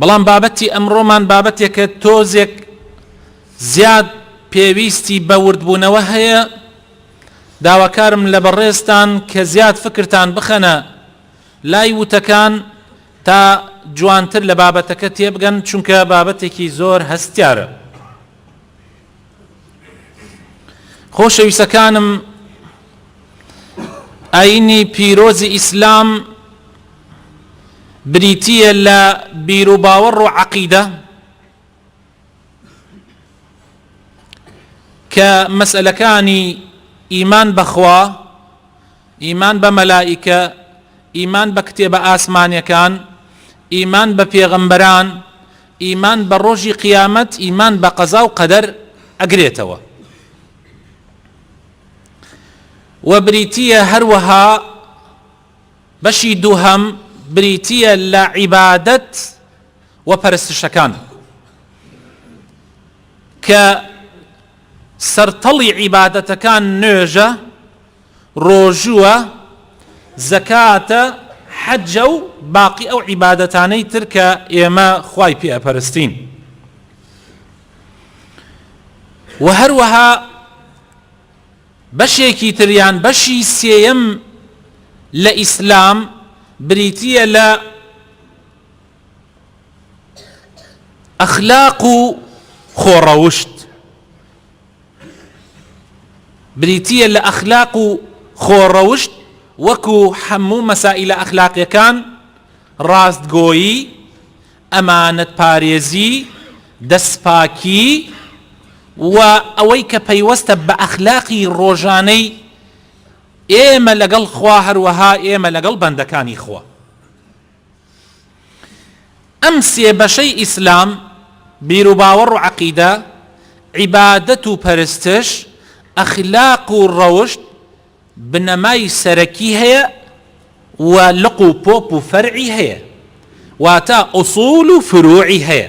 بەڵام بابەتی ئەمڕۆمان بابەتێکە تۆزێک زیاد پێویستی بە وردبوونەوە هەیە داواکارم لە بەڕێزتان کە زیاد فکرتان بخەنە لای وتەکان تا جوانتر لە بابەتەکە تێبگەن چونکە بابەتێکی زۆر هەستیارە خۆشەویستەکانم ئاینی پیرۆزی ئیسلام بریتیە لە بیروباوەڕ و عەقیدە کە مەسئلەکانی ئیمان بەخوا ئیمان بە مەلائیکە ئیمان بە کتێبە ئاسمانیەکان ئیمان بە پێغەمبەران ئیمان بە ڕۆژی قیامەت ئیمان بە قەزا و قەدەر ئەگرێتەوە و بریتییە هەروەها بەشی دووهەم بریتییە لە عیبادەت و پەرستشەکان کە سەرتەڵی عیبادەتەکان نوێژە ڕۆژووە، زەکاتە، حەجە و باقی ئەو عیبادەتانەی تر کە ئێمە خوای پێ ئەپەرستین. وە هەروەها بەشێکی تر یان بەشی سێیەم لە ئیسلام بریتییە لە ئەخلاق و خۆڕەوشت. بریتییە لە ئەخلاق و خۆڕەوشت وەکو هەموو مەسائیلە ئەخلاقیەکان، ڕاستگۆیی، ئەمانەتپارێزی، دەستپاکی و ئەوەی کە پەیوەستە بە ئەخلاقی ڕۆژانەی ئێمە لەگەڵ خوا هەروەها ئێمە لەگەڵ بەندەکانی خوا. ئەم سێ بەشەی ئیسلام، بیروباوەڕ و عەقیدە، عیبادەت و پەرستش، ئەخلاق و ڕەوشت، بنەمای سەرەکی هەیە و لق و پۆپ و فەرعی هەیە، واتە ئوسوول و فرووعی هەیە.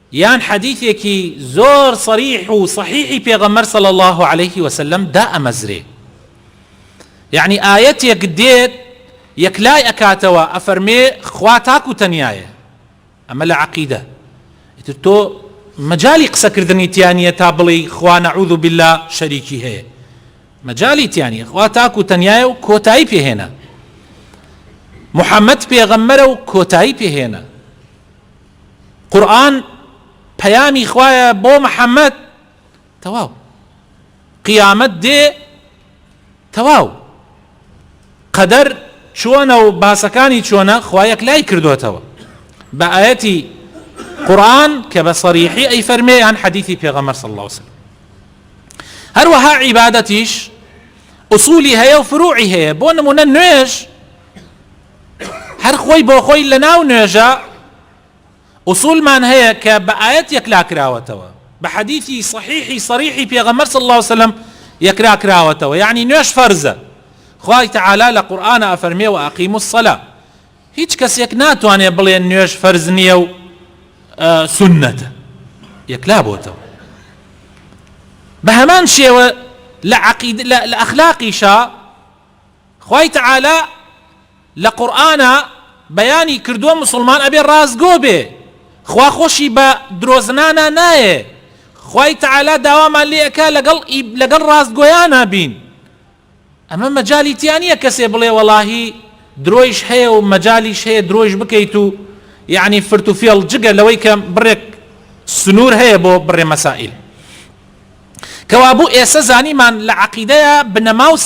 یان حەدیثێکی زۆر صریح و صحیحی پێغەمبەر صلی اللە علیە وسلم دائەمەزرێ یەعنی ئایەتێک دێت یەکلای ئەکاتەوە ئەفەرمێ خوا تاک و تەنیایە ئەمە لە عەقیدە ئیتر تۆ مەجالی قسەکردنی تیانە تا بڵێی خوا نعوذ باللە شەریکی هەیە مەجالی تیانە خوا تاک و تەنیایە و کۆتایی پێهێنە محەممەد پێغەممەرە و کۆتایی پێهێنە قورئان پەیامی خوایە بۆ محمد تەواو قیامەت دێ تەواو قەدەر چۆنە و باسەکانی چۆنە خوا یەکلای کردوتەوە بە ئاەتی قورآن کە بە سەریحی ئەی فەرمێ یان حەدیثی پێغەمەر صلی الله وسلم هەروەها عیبادەتیش ئوسولی هەیە و فروعی هەیە بۆ نمونە نوێش هەر خۆی بۆ خۆی لە ناو نوێژا ئوسولمان هەیە کە بە ئایەت یەکلا کراوەتەوە بە حەدیثی صحیحی صریحی پێغەمبەر صلی اللە وسلم یەکلا کراوەتەوە یعنی نوێژ فەرزە خوای تعالی لە قورئان ئەفەرمێ و ئەقیم الصلا هیچ کەسێک ناتوانێ بڵێ نوێژ فەرز نییە و سنەتە یەکلا بۆتەوە بە هەمان شێوە لە عقید لە ئەخلاقیشە خوای تعالی لە قورئانا بەیانی کردوە موسڵمان ئەبێ ڕاستگۆ بێ خوا خۆشی بە درۆزنانا نایێ خوای تعالی داوامان لێ ئەکا لەگەڵ لەگەڵ ڕاستگۆیانا بین ئەمە مەجالی تیا نیە کەسێ بڵێ وەڵاهی درۆیش هەیە و مەجالیش هەیە درۆیش بکەیت و یعنی فرت و فێڵ جگە لەوەی کە بڕێک سنوور هەیە بۆ بڕێ مەسائل کەوابوو ئێسە زانیمان لە عقیدەیە بنەماوس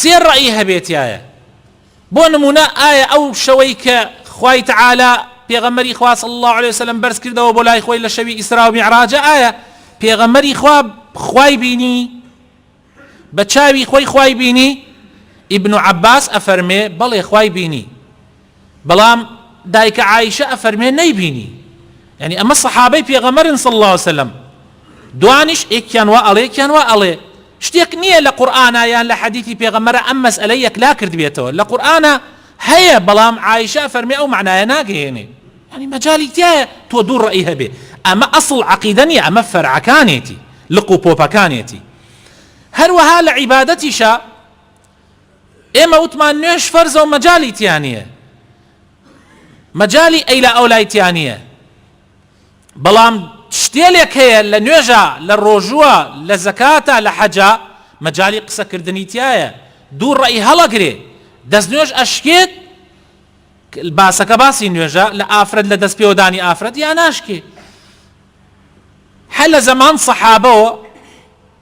سێ ڕەئی هەبێتایە، بۆ نموونە ئایا ئەو شەوەی کە خوای تەعالا پێغەمبەری خوا صلی اللە علیە وسلم بەرز کردەوە بۆ لای خۆی لە شەوی ئیسراو میعراجە ئایا پێغەمبەری خوا خوای بینی بە چاوی خۆی خوای بینی؟ ئیبن عەباس ئەفەرمێ بەڵێ خوای بینی. بەڵام دایکە عائیشە ئەفەرمێ نەیبینی یانی ئەمە سەحابەی پێغەمبەرن صلی اللە وسلم دوانیش ئێکیان وا ئەڵێ ئێکیان وا ئەڵێ شتێک نییە لە قورئانا یان لە حەدیثی پێغەمبەرە ئەم مەسئەلە یەکلا کردبێتەوە لە قورئانا هەیە بەڵام عائیشە فەرمێ ئەو معنایە ناگەیەنێ یعنی مەجالی تایە تۆ دوو ڕەئی هەبێ ئەمە ئەسڵ عەقیدە نییە ئەمە فەرعەکانێتی لق و پۆپەکانێتی هەروەها لە عیبادەتیشە ئێمە وتمان نوێژ فەرزە و مەجالی تیا نییە مەجالی ئەیلا ئەو لای تیا نییە بەڵام شتێلێک هەیە لە نوێژە لە ڕۆژووە لە زەکاتە لە حەجا مەجای قسەکردنی تایە دوو ڕێی هەڵەگرێ دەست نوێژ ئەشکێت باسەکە باسی نوێژە لە ئافرەت لە دەست پێوەدانی ئافرەت یا ناشکێ هە لە زەمان سەحابەوە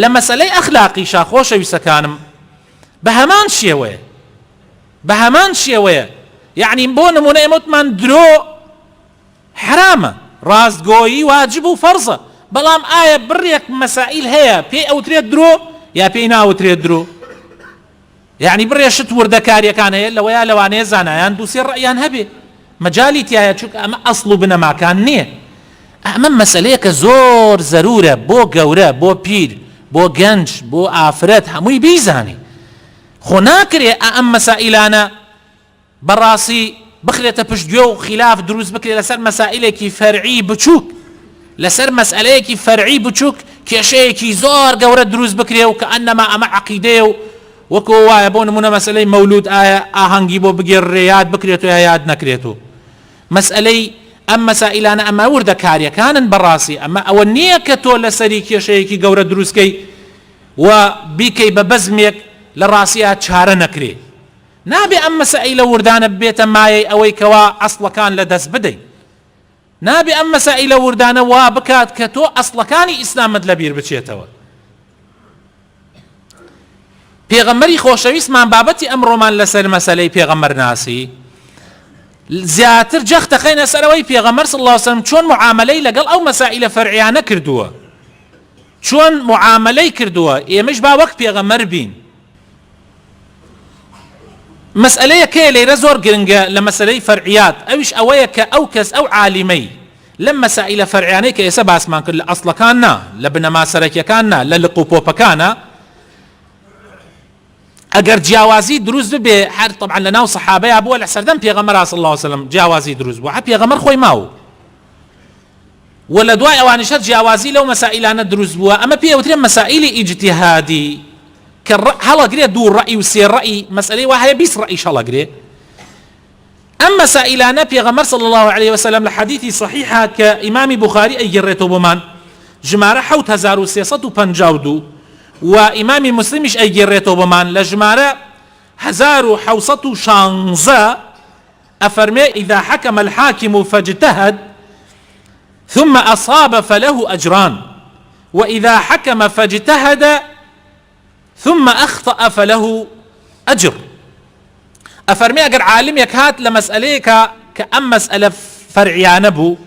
لە مەسەلەی ئەخلاقیشا خۆشەویستەکانم بە هەمان شێوەیە بە هەمان شێوەیە یعنی بۆ نمونە ئێمە وتمان درۆ حرامە ڕاستگۆیی واجب و فەرزە بەڵام ئایا بڕێک مەسائیل هەیە پێی ئەوترێت درۆ یا پێی ناوترێت درۆ یەعنی بڕێ شت وردەکاریەکان هەیە لەوەیە لەوانەیە زانایان دووسێ ڕئیان هەبێ مەجای تایە چونکە ئەمە ئەسڵ و بنەماکان نییە ئەمە مەسلەیە کە زۆر زەرورە بۆ گەورە بۆ پیر بۆ گەنج بۆ ئافرەت هەمووی بیزانێ خۆ ناکرێ ئەم مەسائلانە بەڕاستی بخرێتە پشت گوێ و خیلاف دروست بکرێت لەسەر مەسائلێکی فەرعی بچووک لەسەر مەسئلەیەکی فەرعی بچووک کێشەیەکی زۆر گەورە دروست بکرێ و کە ئەنەما ئەمە عەقیدەیە و وەکۆ وایە بۆ نمونە مەسئلەی مەولود ئایا ئاهەنگی بۆ بگێڕرێ یاد بکرێت و یا یاد نەکرێت و مەسئلەی ئەم مەسائلانە ئەمە وردەکاریەکانن بەڕاستی ئەمە ئەوە نییە کە تۆ لەسەری کێشەیەکی گەورە دروستکەی و بیکەی بە بەزمێک لە ڕاستیا چارە نەکرێ نابێ ئەم مەسائیلە وردانە ببێتە مایەی ئەوەی کەوا ئەسڵەکان لە دەست بدەین. نابێ ئەم مەسائیلە وردانە وا بکات کە تۆ ئەسڵەکانی ئیسلامت لە بیر بچێتەوە. پێغەمبەری خۆشەویستمان بابەتی ئەمڕۆمان لەسەر مەسەلەی پێغەمبەر ناسی زیاتر جەخت دەخەینە سەرەوەی پێغەمبەر صلی الله علیه وسلم چۆن معاملەی لەگەڵ ئەو مەسائلە فەرعیانە کردووە چۆن معاملەی کردووە ئێمەش با وەک پێغەمبەر بین مەسئەلەیە کەیە لەیرە زۆر گرنگە لە مەسەلەی فەرعیات ئەویش ئەوەیە کە ئەو کەس ئەو عالیمەی لەم مەسائیلە فەرعیانەی کە ئێستا باسمان کرد لە ئەسڵەکان نا لە بنەما سەرەکیەکان نا لە لق و پۆپەکانە ئەگەر جیاوازی دروست ببێ هەر طبعا لە ناو سەحابەیە بووە لە سەردەم پێغەمبەر صلی الله علیه وسلم جیاوازی دروست بووە پێغەمبەر خۆی ماوە و لە دوای ئەوانیشە جیاوازی لەو مەسائیلانە دروست بووە ئەمە پێ ئەوترێ مەسائیلی ئیجتیهادی کە هەڵەگرێ دوو ڕەئی و سێ ڕەئی مەسئلەی وا هەیە بیست ڕەئیش هەڵەگرێ ئەم مەسائلانە پێغەمبەر صلی الله علیه وسلم لە حەدیثی صحیحە کە ئیمام بخاری ئەیگەڕێتەوە بۆمان ژمارە 7352 و ئیمامی مسلمیش ئەیگەڕێتەوە بۆمان لە ژمارە 1916 ئەفەرمێ، اذا حکم الحاکم فاجتهد ثم اصاب فله اجران واذا حکم فاجتهد ثم اخطا فله اجر ئەفەرمێ ئەگەر عالمێک هات لە مەسئلەیەکە کە ئەم مەسئلە فەرعیانە بوو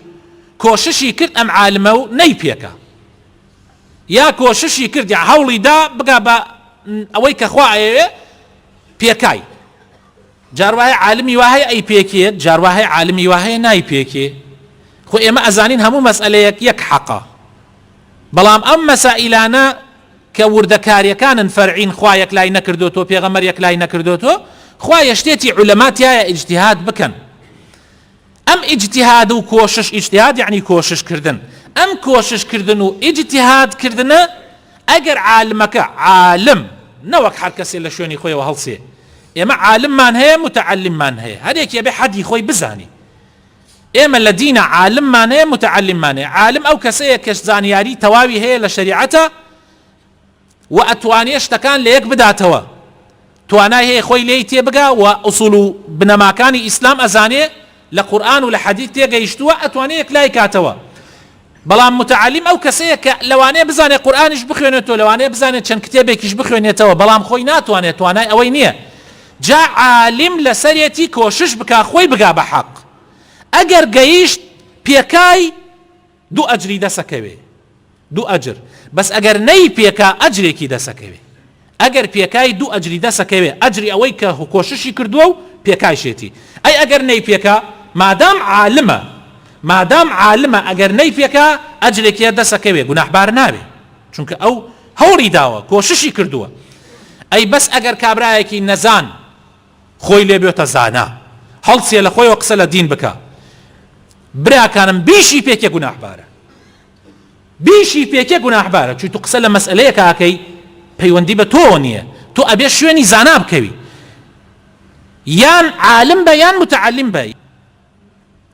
کۆششی کرد ئەم عالمە و نەی پێکە یا کۆششی کرد یا هەوڵی دا بگا بە ئەوەی کە خوا ئەیەوێ پێکای جار وایە عالمی وا هەیە ئەیپێکێت جار وا هەیە عالمی وا هەیە نایپێکێ خۆ ئێمە ئەزانین هەموو مەسئەلەیەک یەک حەقە بەڵام ئەم مەسائیلانە کە وردەکاریەکانن فەرعین خوا یەک لای نەکردوتۆ پێغەمەر یەک لای نەکردوتۆ خوا یەشتێتی علەما تایە ئیجتهاد بکەن ئەم ئیجتیهاد و کۆشش، ئیجتیهاد یەعنی کۆشش کردن، ئەم کۆشش کردن و ئیجتیهاد کردنە ئەگەر عالمەکە، عالم نەوەک هەر کەسێ لە شوێنی خۆیەوە هەڵسێ، ئێمە عالممان هەیە متعلممان هەیە، هەر یەکێ بێ حەدی خۆی بزانێ، ئێمە لە دینە عالممان هەیە متعلممان هەیە، عالم ئەو کەسەیە کە زانیاری تەواوی هەیە لە شەریعەتە، و ئەتوانێ شتەکان لە یەک بداتەوە توانای هەیە خۆی لێی تێبگا و ئوسول و بنەماکانی ئیسلام ئەزانێ لە قورئان و لە حەدیث تێگەیشتووە ئەتوانێ یەکلایی کاتەوە بەڵام متعلم ئەو کەسەیە کە لەوانەیە بزانێ قورئانیش بخوێنێتەوە لەوانەیە بزانێت چەند کتێبێکیش بخوێنێتەوە بەڵام خۆی ناتوانێت توانای ئەوەی نییە جا عالم لەسەرێتی کۆشش بکا خۆی بگا بە حەق ئەگەر گەیشت پێکای دوو ئەجری دەسەکەوێ دوو ئەجر بەس ئەگەر نەی پێکا ئەجرێکی دەسەکەوێ ئەگەر پێکای دوو ئەجری دەسەکەوێ ئەجری ئەوەی کە هوکۆششی کردووە و پێکایشێتی ئەی ئەگەر نەی پێکا مادام عالمە مادام عالمە ئەگەر نەی پێکا ئەجرێکیە دەسەکەوێ گوناحبار ناوێ چونکە ئەو هەوڵی داوە کۆششی کردووە ئەی بەس ئەگەر کابراایەکی نەزان خۆی لێ بێتە زانا هەڵسێ لە خۆیەوە قسە لە دین بکە براکانم بیشی پێکێ گوناحبارە بیشی پێکێ گوناحبارە چوی تو قسە لە مەسئلەیەکە ئەکەی پەیوەندی بە تۆ نییە تۆ ئەبێ شوێنی زانا بکەوی یان عالم بە یان متعلم بە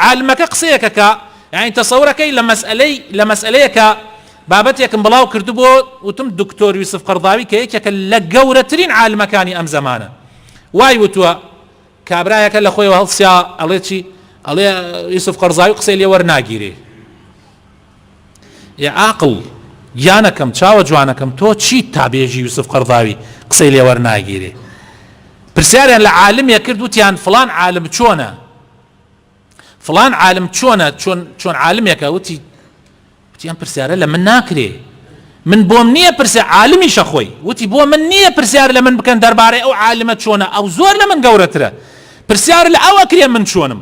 عالمەکە قسەیەکە کە یانی تەسەورە کەی لە مەسئەلەی لە مەسئەلەیە کە بابەتێکم بڵاو کردبۆ وتم دکتۆر یوسف قەڕضاوی کە یەکێکە لە گەورەترین عالمەکانی ئەم زەمانە وای وتوە کابرایەکە لە خۆیەوە هەڵسیا ئەڵێ چی ئەڵێ یوسف قەڕزاوی قسەی لێ وەرناگیرێ ئێ عاقڵ گیانەکەم چاوە جوانەکەم تۆ چیت تا بێژی یوسف قەرضاوی قسەی لێوەر ناگیرێ پرسیاریان لە عالمێ کرد وتیان فلان عالم چۆنە فڵان عالم چۆنە چۆن چۆن عالمێکە وتی وتی ئەم پرسیارە لە من ناکرێ من بۆم نییە پرسە عالمیشە خۆی وتی بۆ من نییە پرسیار لە من بکەن دەربارەی ئەو عالمە چۆنە ئەو زۆر لە من گەورەترە پرسیار لە ئەوە کرێ من چۆنم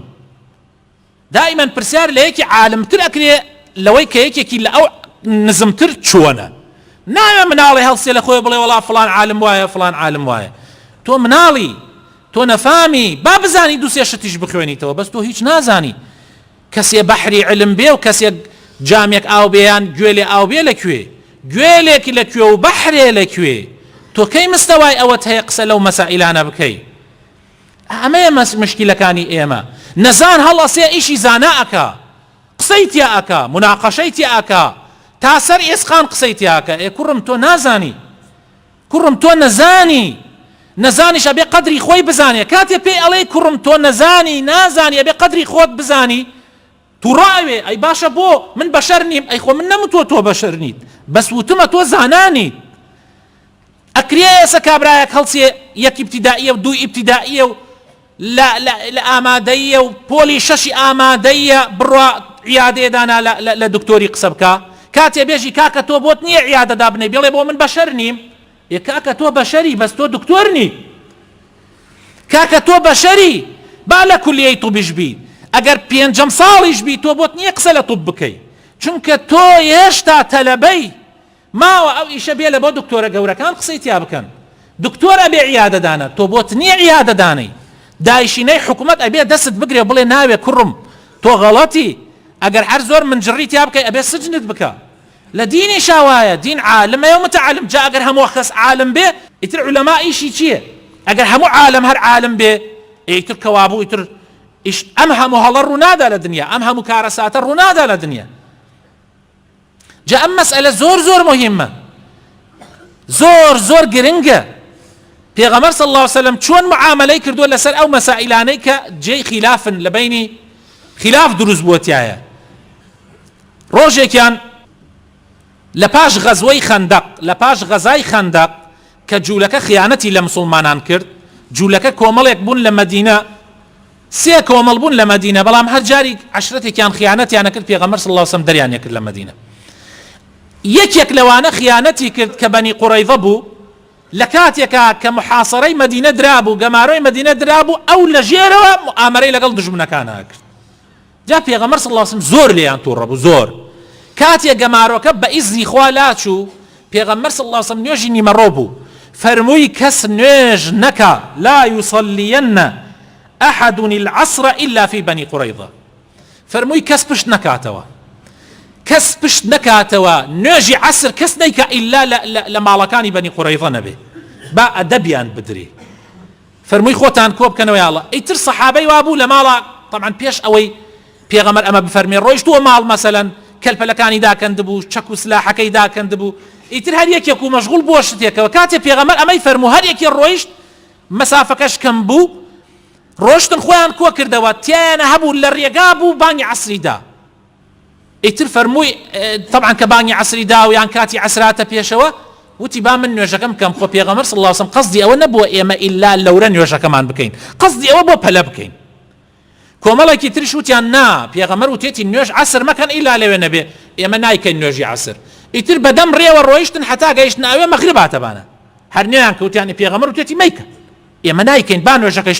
دائیمەن پرسیار لە یەکی عالمتر ئەکرێ لەوەی کە یەکێکی لە ئەو نزمتر چۆنە نایە مناڵی هەڵسێ لە خۆی بڵێ وڵا فلان عالم وایە فلان عالم وایە تۆ مناڵی تۆ نەفامی با بزانی دوو سێ شتیش بخوێنیتەوە بەس تۆ هیچ نازانی کەسێ بەحری علم بێ و کەسێک جامێک ئاو بێ یان گوێ لێ ئاو بێ لە کوێ گوێ لێک لە کوێ و بەحرێ لە کوێ تۆ کەی مستەوای ئەوەت هەیە قسە لەو مەسائیلانە بکەی ئەمەیە مەس مشکلەکانی ئێمە نەزان هەڵەسێ ئیشی زانا ئەکا قسەی تیا ئەکا مناقەشەی تیا ئەکا تا سەر ئێسقان قسەی تیا ئەکا ئێ کوڕم تۆ نازانی کوڕم تۆ نەزانی نەزانیش ئەبێ قەدری خۆی بزانێ کاتێ پێی ئەڵێی کوڕم تۆ نەزانی نازانی ئەبێ قەدری خۆت بزانی توڕە ئەوێ ئەی باشە بۆ من بەشەر نیم ئەی خۆ من نەمتوە تۆ بەشەر نیت بەس وتمە تۆ زانانیت ئەکرێ ئێسە کابرایەک هەڵسێ یەک ئیبتیدائیە و دوو ئیبتیدائیە و لە لە ئامادەییە و پۆلی شەشی ئامادەییە بڕوا عیادەیە دانا لە دکتۆری قسە بکە کاتێ بێژی کاکە تۆ بۆت نییە عیادە دابنەی بڵێ بۆ من بەشەر نیم یە کاکە تۆ بەشەری بەس تۆ دکتۆر نی کاکە تۆ بەشەری با لە کولیەی طبیش بی ئەگەر پێنجەم ساڵیش بی تۆ بۆت نییە قسە لە طب بکەی چونکە تۆ هێشتا تەلەبەی ماوە ئەو ئیشە بێلە بۆ دکتۆرە گەورەکان قسەی تیا بکەن دکتۆر ئەبێ عیادە دانە تۆ بۆت نیە عیادە دانەی دایشینەی حکومەت ئەبێ دەستت بگرێ بڵێ ناوێ کوڕم تۆ غەڵەتی ئەگەر هەر زۆر منجڕی تیا بکەی ئەبێ سجنت بکا لە دینیشا وایە دین عالمەیە و متعلم جا ئەگەر هەموو کەس عالم بێ ئیتر علماء ئیشی چیە ئەگەر هەموو عالم هەر عالم بێ ئیتر کەوابوو ئیتر ئیش ئەم هەموو هەڵە ڕوونادا لە دنیا ئەم هەموو کارەساتە ڕوونادا لە دنیا جا ئەم مەسئەلە زۆر زۆر مهمە زۆر زۆر گرنگە پێغەمەر صلی الله وسلم چۆن معاملەی کردووە لەسەر ئەو مەسائلانەی کە جێی خلافن لە بینی خلاف دروست بووتایە ڕۆژێکیان لە پاش غەزوەی خەندەق لە پاش غەزای خەندەق کە جوولەکە خیانەتی لە مسلمانان کرد جوولەکە کۆمەڵێک بوون لە مەدینە سێ کۆمەڵ بوون لە مەدینە بەڵام هەر جاریک عەشرەتێکیان خیانەتیان ئەکرد پێغەمبەر صلی اللە علیە و سەلم دەریان ئەکرد لە مەدینە یەکێک لەوانە خیانەتی کرد کە بەنی قوڕەیضە بوو لە کاتێکا کە محاصرەی مەدینە درابوو گەمارۆی مەدینە درابوو ئەو لە ژێرەوە مؤامرەی لەگەڵ دژمنەکانا کرد جا پێغەمبەر صلی اللە علیە و سەلەم زۆر لێیان توڕە بوو زۆر کاتێ گەمارۆکە بە ئیزنی خوا لاچوو پێغەمبەر صلی اللە علیە و سەلەم نوێژی نیمەڕۆ بوو فەرمووی کەس نوێژ نەکا لا یصلیەن احد العصر الا فی بنی قریظە فەرمووی کەس پشت نەکاتەوە کەس پشت نەکاتەوە نوێژی عسر کەس نیکە ئللا لە ماڵەکانی بەنی قڕیضە نەبێ با ئەدەبیان بدرێ فەرمووی خۆتان کۆ بکەنەوە یاڵڵە ئیتر سەحابەی وا بوو لە ماڵا تەبعەن پێش ئەوەی پێغەمبەر ئەمە بفەرموێ ڕۆیشتووە ماڵ مەسەلەن کەلپەلەکانی داکەندبوو چەک و سلاحەکەی داکەندبوو ئیتر هەر یەکێک و مەشغوڵ بووە شتێکەوە کاتێ پێغەمبەر ئەمەی فەرموو هەر یەکێ ڕۆیشت مەسافەکەش کەم بوو ڕۆشتن خۆیان کۆ کردەوە تیایانە هەبوو لە ڕێگا بوو بانگی عەسری دا ئیتر فەرمووی تەبعەن کە بانگی عەسری دا و یان کاتی عەسراتە پێشەوە وتی با من نوێژەکەم بکەم خۆ پێغەمبەر صلی الله علیه و سلم قصدی ئەوە نەبووە ئێمە ئیلا لەورە نوێژەکەمان بکەین قصدی ئەوە بۆ پەلە بکەین کۆمەڵێکی ترش وتیان نا پێغەمبەر وتێتی نوێژ عەسر مەکەن ئیلا لەوێ نەبێ ئێمە نایکەین نوێژی عەسر ئیتر بەدەم ڕێوە ڕۆیشتن حتا گەیشتن ئەوێ مەغرب هاتەبانە هەر نوێیان کەوتیانی پێغەمبەر وتێتی مەیکە ئێمە نایکەین با نوێژەکەش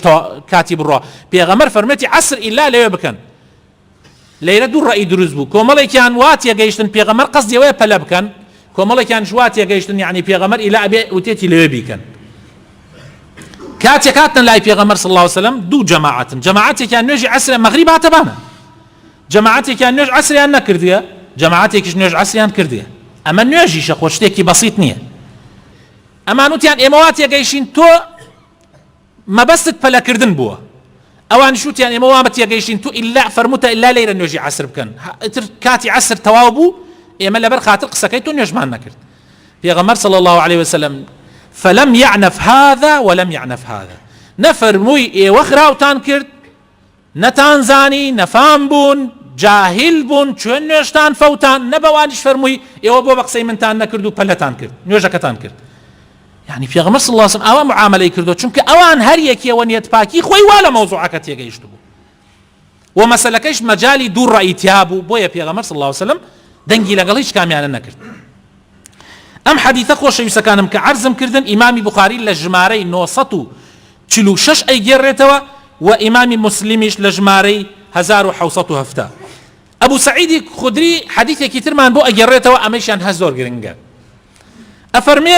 کاتی بڕۆ پێغەمبەر فەرمێتی عەسر ئیلا لەوێ بکەن لێرە دوو ڕەئی دروست بوو، کۆمەڵێکیان وا تێگەیشتن پێغەمبەر قەسدی ئەوەیە پەلە بکەن، کۆمەڵێکیانیش وا تێگەیشتن یەعنی پێغەمبەر ئیلا ئەبێ وتێکی لەوێ بیکەن. کاتێک هاتنە لای پێغەمبەر صلی الله علیه وسلم دوو جەماعەتن، جەماعەتێکیان نوێژی عەسر مەغریب هاتە بانە، جەماعەتێکیان نوێژ عەسریان نەکردووە، جەماعەتێکیش نوێژ عەسریان کردووە. ئەمە نوێژیشە خۆ شتێکی بەسیط نییە. ئەمان وتیان ئێمە وا تێگەیشتین تۆ مەبەستت پەلەکردن بووە ئەوانیش وتیان ئێمە وامە تێگەیشتین تو ئیلا فەرموتە ئیلا لەیرە نوێژی عەسر بکەن ئیتر کاتی عەسر تەواو بوو ئێمە لەبەر خاتر قسەکەی تۆ نوێژمان نەکرد پێغەمبەر صلی الله عليه وسلم فلم يعنف هذا ولم يعنف هذا نەفەرمووی ئێوە خراوتان کرد نەتان زانی نەفام بوون جاهیل بوون چۆن نوێژتان فەوتاند نە بەوانیش فەرمووی ئێوە بۆ بە قسەی منتان نەکرد و پەلەتان کرد نوێژەکەتان کرد یعنی پێغەمبەر صلی الله علیه و سلم ئاوا معاملەی کردو چونکە ئەوان هەر یەکێ وە نیەت پاکی خۆی وا لە مەوزوعەکە تێگەیشت بوو و مەسەلەکەش مەجالی دوو ڕەئی تیا بوو بۆیە پێغەمبەر صلی الله علیه و سلم دەنگی لەگەڵ هیچ کامیانە نەکرد ئەم حەدیثە خۆشەویستەکانم کە عەرزم کردن ئیمامی بوخاری لە ژمارەی نۆ سەد و چل و شەش ئەیگێڕێتەوە و ئیمامی موسلیمیش لە ژمارەی هەزار و حەوت سەد و هەفتا ئەبو سعیدی خدری حەدیثێکی ترمان بۆ ئەگێڕێتەوە ئەمەیشیان هەر زۆر گرنگە ئەفەرمێ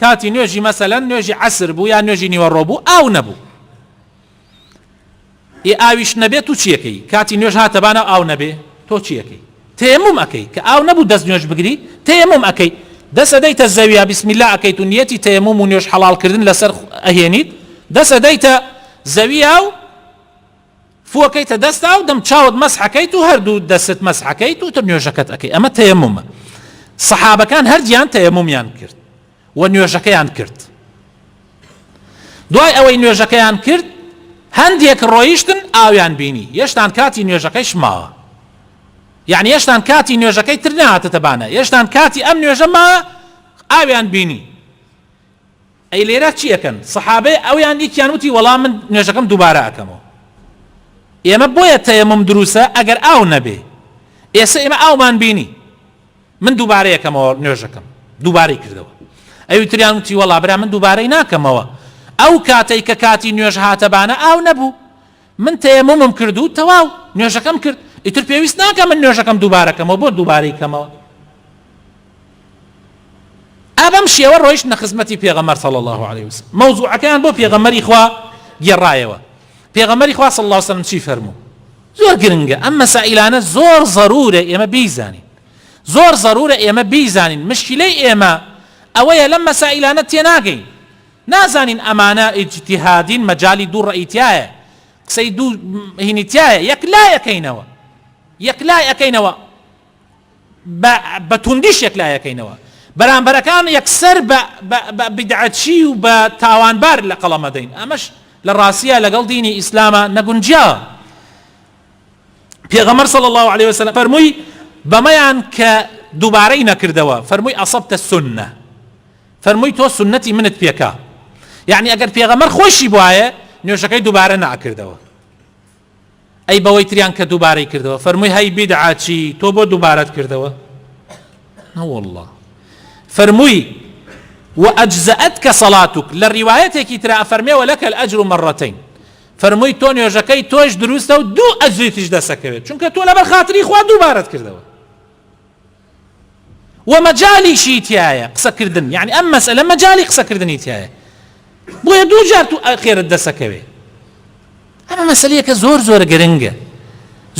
کاتی نوێژی مەسەلەن نوێژی عەسر بوو یا نوێژی نیوەڕۆ بوو ئاو نەبوو ئێ ئاویش نەبێت تو چیەکەی کاتی نوێژ هاتەبانە ئاو نەبێ تۆ چیەکەی تێمم ئەەکەی کە ئاو نەبوو دەست نوێژ بگری تێمم ئەەکەی دەسەدەیتە زەویە بسمیلا ئەەکەیت و نیەتی تێمم و نوێژ حەڵالکردن لەسەر ئەهێنیت دەسەدەیتە زەویە و فووەکەیتە دەستا و دەم چاوت مەسحەکەیت و هەردوو دەستت مەسحەکەیت و تر نوێژەکەت ئەکەی ئەمە تەیەمومە سەحابەکان هەردیان تەیەمومیان کرد و نوێژەکەیان کرد دوای ئەوەی نوێژەکەیان کرد هەندێک ڕۆیشتن ئاویان بینی یەشتان کاتی نوێژەکەیش ماوە یعنی یەشتان کاتی نوێژەکەی تر ناتەتەبانە یەشتان کاتی ئەم نوێژە ما ئاویان بینی ئەی لێرە چی ئەکەن سەحابەی ئەویان یەکیان وتی وەڵا من نوێژەکەم دووبارە ئەکەمەوە ئێمە بۆیە تەیەموم دروستە ئەگەر ئاو نەبێ ئێستا ئێمە ئاومان بینی من دووبارە یەکەمەوە نوێژەکەم دووبارەی کردەوە ئەوی تریان وتی وەڵا برا من دووبارەی ناکەمەوە ئەو کاتەی کە کاتی نوێژ هاتە بانە ئاو نەبوو من تەیەمومم کرد و تەواو نوێژەکەم کرد، ئیتر پێویست ناکا من نوێژەکەم دووبارە کەمەوە، بۆ دووبارەی کەمەوە؟ ئا بەم شێوە ڕۆیشتنە خزمەتی پێغەمبەر صلی الله علیه وسلم مەوزوعەکەیان بۆ پێغەمبەری خوا گێڕایەوە پێغەمبەری خوا صلی الله علیه وسلم چی فەرموو زۆر گرنگە ئەم مەسائلانە زۆر ضرورە ئێمە بیزانین زۆر ضرورە ئێمە بیزانین مشکلەی ئێمە ئەوەیە لەم مەسائلانە تێناگەین نازانین ئەمانە ئیجتیهادین مەجالی دوو ڕەئی تیایە قسەی دوو هینی تیایە یەک لای ئەکەینەوە یەک لای ئەکەینەوە بە توندیش یەک لای ئەکەینەوە بەرامبەرەکان یەکسەر بە بدعەچی و بە تاوانبار لە قەڵەمە دەین ئەمەش لە ڕاستیە لەگەڵ دینی ئیسلامە نەگونجیا پێغەمەر صلی الله عليه وسلم فەرمووی بەمەیان کە دووبارەی نەکردەوە فەرمووی ئەصبتە سنە فەرمووی تۆ سوننەتی منت پێکە یەعنی ئەگەر پێغەمبەر خۆیشی بوایە نوێژەکەی دووبارە نەئەکردەوە ئەی بەوەی تریان کە دووبارەی کردەوە فەرمووی هەی بیدعا چی تۆ بۆ دووبارەت کردەوە نەوەڵڵا فەرمووی وەئەجزەت کە سەڵاتوک لە ڕیوایەتێکی ترا فەرمێوە لەکە ئەجر و مەڕەتین فەرمووی تۆ نوێژەکەی تۆش دروستە و دوو ئەجریتیش دەسەکەوێت چونکە تۆ لەبەر خاتری خوا دووبارەت کردەوە و مەجالیشی تیایە قسە کردن یەعنی ئەم مەسەلە مەجالی قسە کردنی تیایە بۆیە دوو جار تو خێرت دەسەکەوێ ئەمە مەسەلەیەکە زۆر زۆر گرنگە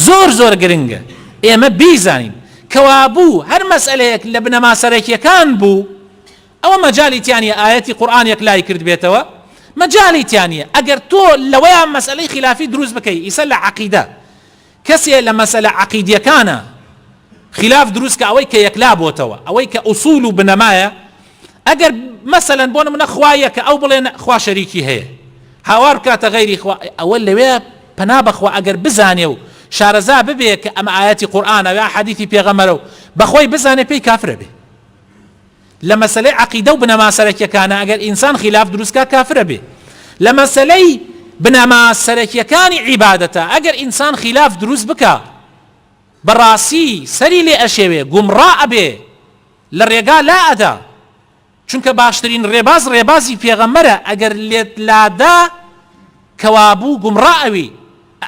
زۆر زۆر گرنگە ئێمە بیزانین کەوابوو هەر مەسئلەیەک لە بنەما سەرەکیەکان بوو ئەوە مەجای تیانە ئاەتی قورآان یەک لای کرد بێتەوە مەجای تیانە ئەگەر تۆ لەوەیان مەسئلەی خلافی دروست بکەی ئیسە لە عقیدە کەسێ لە مەسەلە عەقیدیەکانا خیلاف دروست کە ئەوەی کە یەکلا بۆتەوە ئەوەی کە ئوسول و بنەمایە ئەگەر مەسەلەن بۆ نمونە خوا یەکە ئەو بڵێن خوا شەریکی هەیە هاوار بکاتە غەیری خوا ئەوە لەوێ پەنا بەخوا ئەگەر بزانێ و شارەزا ببێ کە ئەمە ئایەتی قورئانە یا حەدیثی پێغەمبەرە و بەخۆی بزانێ پێی کافرە بێ لە مەسەلەی عەقیدە و بنەما سەرەکیەکانە ئەگەر ئینسان خیلاف دروست کا کافر ئەبێ لە مەسەلەی بنەما سەرەکیەکانی عیبادەتە ئەگەر ئینسان خیلاف دروست بکا بە ڕاستی سەری لێ ئەشێوێ گومڕا ئەبێ لە ڕێگا لا ئەدا چونکە باشترین ڕێباز ڕێبازی پێغەمبەرە ئەگەر لێت لادا کەوابوو گومڕا ئەوی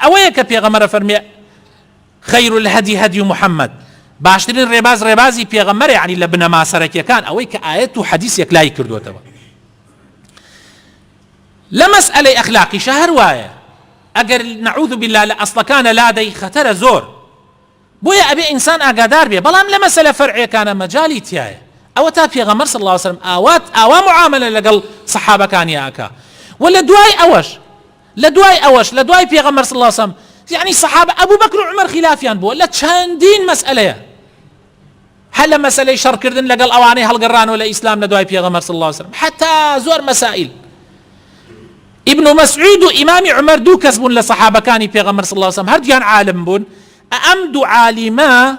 ئەوەیە کە پێغەمەرە فەرمێ خیر الهدی هدی محمد، باشترین ڕێباز ڕێبازی پێغەمبەرە یەعنی لە بنەما سەرەکیەکان ئەوەی کە ئایەت و حەدیس یەکلایی کردۆتەوە لە مەسئەلەی ئەخلاقیشە هەر وایە ئەگەر نعوذ بالله لە ئەسڵەکانە لادەی خەتەرە زۆر بۆیە ئەبێ ئینسان ئاگادار بێ بەڵام لە مەسەلە فەرعیەکانە مەجای تایە ئەوە تا پێغەمبەر صلی الله علیه وسلم ئاوات ئاوا معاملە لەگەڵ صحابەکانی ئاکا و لە دوای ئەوەش لەدوای ئەوەش لەدوای پێغەمبەر صلی اللە علیە وسلم یەعنی صحابە ابو بکر و عمر خیلافیان بووە لە چەندین مەسئەلەیە هەر لە مەسەلەی شەڕکردن لەگەڵ ئەوانەی هەڵگەڕانەوە لە ئیسلام لە دوای پێغەمبەر صلی اللە علیە وسلم حتا زۆر مەسائل ابن مسعود و امام عمر دوو کەس بوون لە صحابەکانی پێغەمبەر صلی اللە علیە وسلم هەردوویان عالم بوون ئەم دوو عالیمە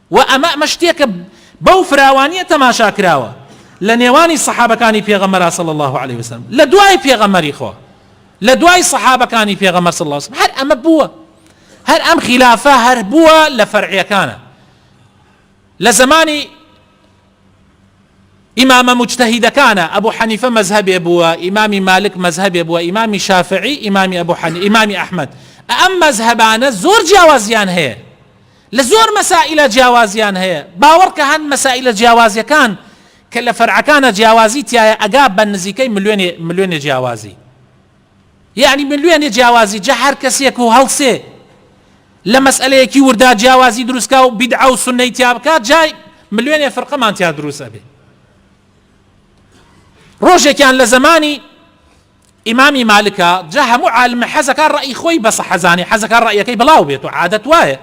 و ئەمە ئەمە شتێکە بەو فراوانیە تەماشا کراوە لە نێوانی سەحابەکانی پێغەمبەرا صلی اللە علیە وسلم لە دوای پێغەمبەری خوا لە دوای سەحابەکانی پێغەمبەر صلی اللە علیە وسلم هەر ئەمە بووە هەر ئەم خلافە هەر بووە لە فەرعیەکانە لە زمانی ئیمامە مجتهیدەکانە ئەبوو حەنیفە مەذهبێ بووە ئیمامی مالک مەذهبێ بووە ئیمامی شافعی ئیمامی ئەبوو حەنی ئیمامی ئەحمد ئەم مەذهبانە زۆر جیاوازیان هەیە لە زۆر مەسائیلا جیاوازیان هەیە، باوەڕکە هەن مەسائیلە جیاوازیەکان کە لە فەرعەکانا جیاوازی تیایە ئەگا بە نزیکەی ملوێنێ ملوێنێ جیاوازی یەعنی ملوێنێ جیاوازی جا هەر کەسێک و هەڵسێ لە مەسئەلەیەکی وردا جیاوازی دروستکا و بیدعە و سوننەی تیا بکات جا ملوێنێ فرقەمان تیا دروست ئەبێ ڕۆژێکیان لە زەمانی ئیمامی مالکە جا هەموو عالمە حەزەکا ڕەئی خۆی بە سەحە زانێ حەزەکا ڕەئیەکەی بڵاو بێت و عادەت وایە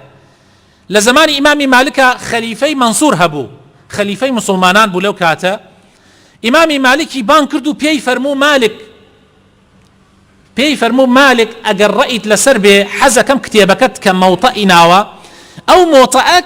لە زەمانی ئیمامی مالکە خەلیفەی مەنسور هەبوو خەلیفەی مسوڵمانان بوو لەو کاتە ئیمامی مالکی بانگ کرد و پێی فەرموو مالک پێی فەرموو مالک ئەگەر ڕەئیت لەسەر بێ حەزەکەم کتێبەکەت کە مەوتەئی ناوە ئەو مۆتەئەک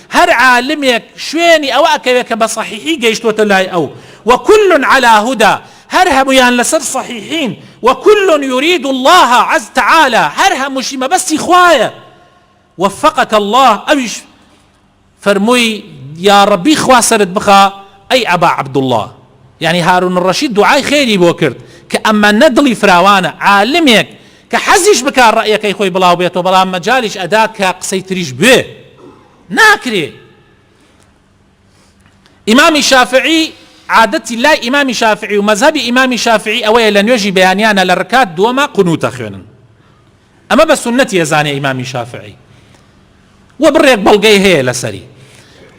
هەر عالمێک شوێنی ئەوە ئەکەوێت کە بە صحیحی گەیشتووەتە لای ئەو، وکل علی هدی، هەر هەموویان لەسەر صحیحین، وکل یرید اللە عز تعالی، هەر هەمووشی مەبەستی خوایە، وفقک اللە، ئەویش فەرمووی، یاڕەبی خوا سەرت بخا ئەی ئەبا عەبدوڵڵا، یانی هارون الرشید دوعای خێری بۆ کرد، کە ئەمەنە دڵی فراوانە، عالمێک، کە حەزیش بکا ڕەئیەکەی خۆی بڵاو بێتەوە بەڵام مەجالیش ئەدات کە قسەی تریش بوێ ناکرێ ئیمامی شافعی عادەتی لای ئیمامی شافعی و مەزەبی ئیمامی شافعی ئەوەیە لە نوێژی بەیانیانە لە ڕکات دووەمە قنوتە خوێنن ئەمە بە سنەتی ئەزانێ ئیمامی شافعی وە بڕێک بەڵگەی هەیە لەسەری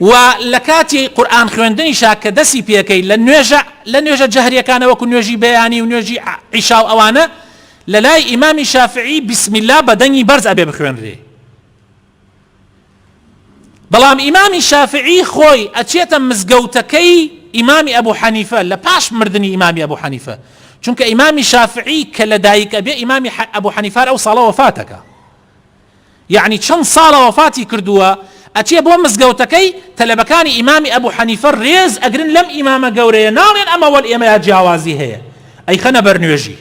وە لەکاتی قورآن خوێندنیشا کە دەسی پێکەی لە نوێژە لە نوێژە جەهریەکانە وەکو نوێژی بەیانی و نوێژی عیشا و ئەوانە لە لای ئیمامی شافعی بسم الله بە دەنگی بەرز ئەبێ بخوێنرێ بەڵام ئیمامی شافعی خۆی ئەچێتە مزگەوتەکەی ئیمامی ئەبوو حەنیفە لە پاش مردنی ئیمامی ئەبوو حەنیفە چونکە ئیمامی شافعی کە لە دایک ئەبێ ئیمامی ئەبوو حەنیفار ئەو ساڵە وەفاتەکە یەعنی چەند ساڵە وەفاتی کردووە ئەچێ بۆ مزگەوتەکەی تەلەبەکانی ئیمامی ئەبو حەنیفە رێز ئەگرن لەم ئیمامە گەورەیە ناڵێن ئەمە وەل ئێمەیا جیاوازی هەیە ئەیخەنە بەر نوێژی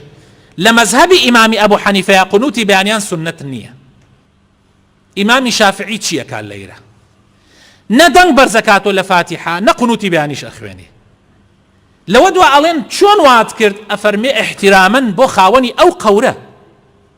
لە مەزهەبی ئیمامی ئەبو حەنیفەیا قنوتی بەیانیان سوننەت نییە ئیمامی شافعی چییەکا لەیرە نە دەنگ بەرزەکاتۆ لە فاتیحە نە قنوتی بەیانیش ئەخوێنێ لەوە دوا ئەڵێن چۆن وات کرد ئەفەرمێ احترامەن بۆ خاوەنی ئەو قەورە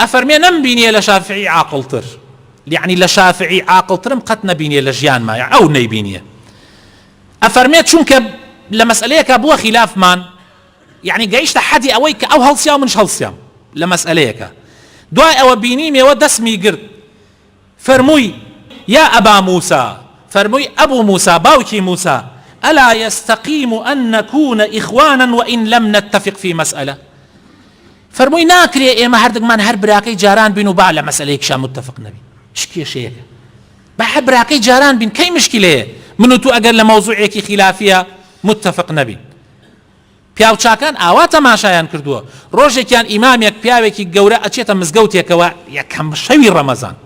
ئەفەرمێ نەم بینیە لە شافعی عاقڵتر یەعنی لە شافعی عاقڵترم قەت نەبینیە لە ژیانما یەع ئەو نەیبینیە ئەفەرمێ چونکە لە مەسئەلەیەکا بووە خیلافمان یەعنی گەیشتە حەدی ئەوەی کە ئەو هەڵسیا و منش هەڵسیام لە مەسئەلەیەکا دوای ئەوە بینیمێوە دەسمی گرت فەرمووی، یا ئەبا موسا، فەرمووی، ئەبو موسا، باوکی موسا، الا یستقیم ان نکون اخوانا وان لم نتفق فی مسئلە، فەرمووی، ناکرێ ئێمە هەردگمان هەر براکەی جاران بین و با لە مەسەلەیەکیشا متفق نەبین، چ کێشەیەکە با هەر براکەی جاران بین، کەی مشکلەیە من و تۆ ئەگەر لە مەوزوعێکی خیلافییا متفق نەبین؟ پیاوچاکان ئاوا تەماشایان کردووە، ڕۆژێکیان ئیمامێک پیاوێکی گەورە ئەچێتە مزگەوتێکەوە یەکەم شەوی ڕەمەزان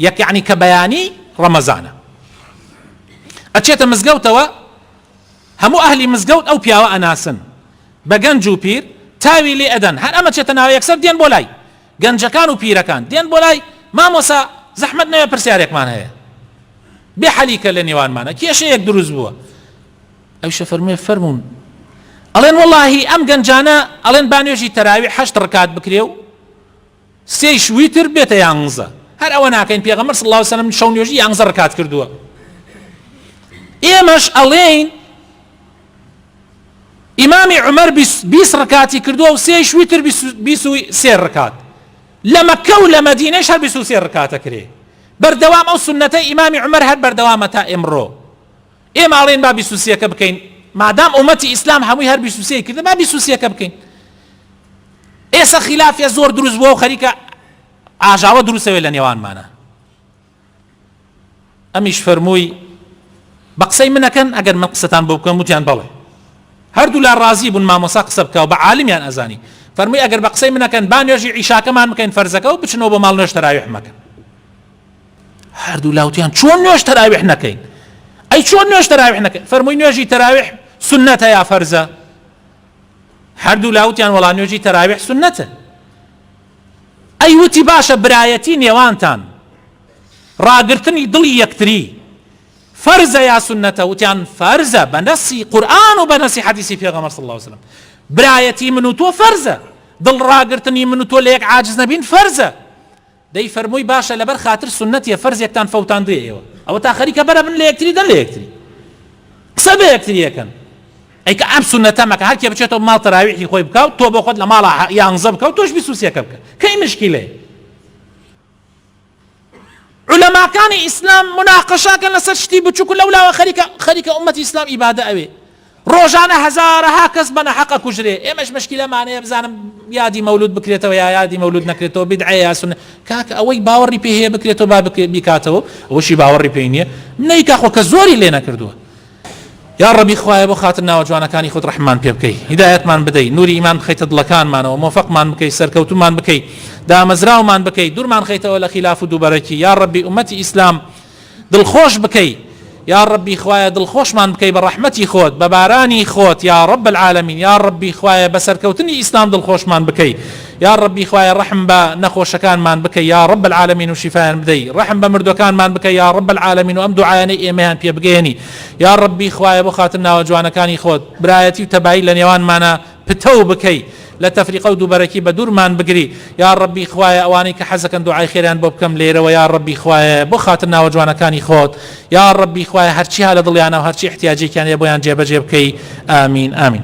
یەک یەعنی کە بەیانی ڕەمەزانە ئەچێتە مزگەوتەوە هەموو ئەهلی مزگەوت ئەو پیاوە ئەناسن بە گەنج و پیر تاوی لێ ئەدەن هەر ئەمە چێتە ناوە یەکسەر دێن بۆ لای گەنجەکان و پیرەکان دێن بۆ لای مامۆسا زەحمەت نەوێ پرسیارێکمان هەیە بێ حەلیکە لە نێوانمانە کێشەیەک دروست بووە ئەویش ئەفەرموێ فەرموون. ئەڵێن وەڵاهی ئەم گەنجانە ئەڵێن با نوێژی تەراویح هەشت ڕکات بکرێ و سێیش ویتر بێتە یانزە، هەر ئەوە ناکەین، پێغەمبەر صلی اللە علیە و سلم شەو نوێژی یانزە ڕکات کردووە، ئێمەش ئەڵێین ئیمامی عومەر بیست ڕکاتی کردووە و سێیش ویتر بیست و سێ ڕکات، لە مەککە و لە مەدینەش هەر بیست و سێ ڕکاتە کرێ، بەردەوام ئەو سوننەتەی ئیمامی عومەر هەر بەردەوامە تا ئیمڕۆ. ئێمە ئەڵێین با بیست و سێکە بکەین مادام ئومەتی ئیسلام هەمووی هەر بیست و سێی کردە با بیست و سێکە بکەین ئێستا خلافە زۆر دروست بووە و خەریکە ئاژاوە دروستەوێت لە نێوانمانە ئەمیش فەرمووی بە قسەی منەکەن ئەگەر من قسەتان بۆ بکەم وتیان بەڵێ هەردوو لا ڕازی بوون مامۆسا قسە بکە و بە عالمیان ئەزانی فەرمووی ئەگەر بە قسەی منەکەن با نوێژی عیشاکەمان بکەین فەرزەکە و بچنەوە بە ماڵ نوێش تەراویح مەکەن هەردوو لاوتیان چۆن نوێژ تەراویح نەکەین ئەی چۆن نوێژ تەراویح نەکەین فەرمووی نوێژی تەراویح سنەتە یا فەرزە هەردوو لاوتیان وەڵا نوێژی تەراویح سنەتە ئەی وتی باشە برایەتی نێوانتان ڕاگرتنی دڵی یەکتری فەرزە یا سنەتە وتیان فەرزە بە نەسی قورآن و بە نەسی حەدیسی پێغەمە صلی الله عليه وسلم برایەتی من و تۆ فەرزە دڵ ڕاگرتنی من و تۆ لە یەک عاجز نەبین فەرزە دەی فەرمووی باشە لەبەر خاتر سونەتیە فەرزێکتان فەوتاندوویە ئێوە ئەوەتا خەریکە بەرە بن لە یەکتری دەر لە یەکتری قسە بە یەکتری یەکەن ئەی کە ئەم سونەتە مەکە هەر کێ بچێتەوە ماڵ تەراویحی خۆی بکە و تۆ بۆ خۆت لە ماڵە یانزە بکە و تۆش بیست و سێکە بکە کەی مشکیلەیە علەماکانی ئیسلام مناقەشاکەن لەسەر شتی بچووک و لەولاوە خەریکە خەریکە ئومەتی ئیسلام ئیبادە ئەوێ ڕۆژانە هەزارەها کەس بە نەحەق ئەکوژرێ ئێمەش مشکیلەمانەیە بزانم یادی مەولود بکرێتەوە یا یادی مەولود نەکرێتەوە بیدعەیە یا سوننە کاکە ئەوەی باوەڕی پێ هەیە بکرێتەوە با بکرێت بیکاتەوە ئەوەشی باوەڕی پێی نییە نەیکا خۆ کەس زۆری لێ نەکردووە یا ڕەبی خوایە بۆ خاتر ناوە جوانەکانی خۆت ڕەحممان پێ بکەی هیدایەتمان بدەی نوری ئیمان بخەیتە دڵەکانمانەوە مۆفەقمان بکەی سەرکەوتومان بکەی دامەزراومان بکەی دوورمان خەیتەوە لە خیلاف و دووبەرەکی یا ڕەبی ئومەتی ئیسلام دڵخۆش بکەی یاڕەبی خوایە دڵخۆشمان بکەی بە ڕەحمەتی خۆت بە بارانی خۆت یاڕەب العالمین یاڕەبی خوایە بە سەرکەوتنی ئیسلام دڵخۆشمان بکەی یاڕەبی خوایە ڕەحم بە نەخۆشەکانمان بکەی یاڕەب العالمین و شیفایان بدەی ڕەحم بە مردوەکانمان بکەی یاڕەب العالمین و ئەم دوعایانەی ئێمەیان پێ بگەیەنی یاڕەبی خوایە بۆ خاتر ناوە جوانەکانی خۆت برایەتی و تەبایی لە نێوانمانا پتەو بکەی لە تەفریقە و دووبەرەکی بەدوورمان بگری یاڕەبی خوایە ئەوانەی کە حەزەکەن دوعای خێریان بۆ بکەم لێرەوە یاڕەبی خوایە بۆ خاتر ناوە جوانەکانی خۆت یاڕەبی خوایە هەرچی هەلە دڵیانە و هەرچی احتیاجێکیان هەیە بۆیان جێبەجێ بکەی ئامین ئامین.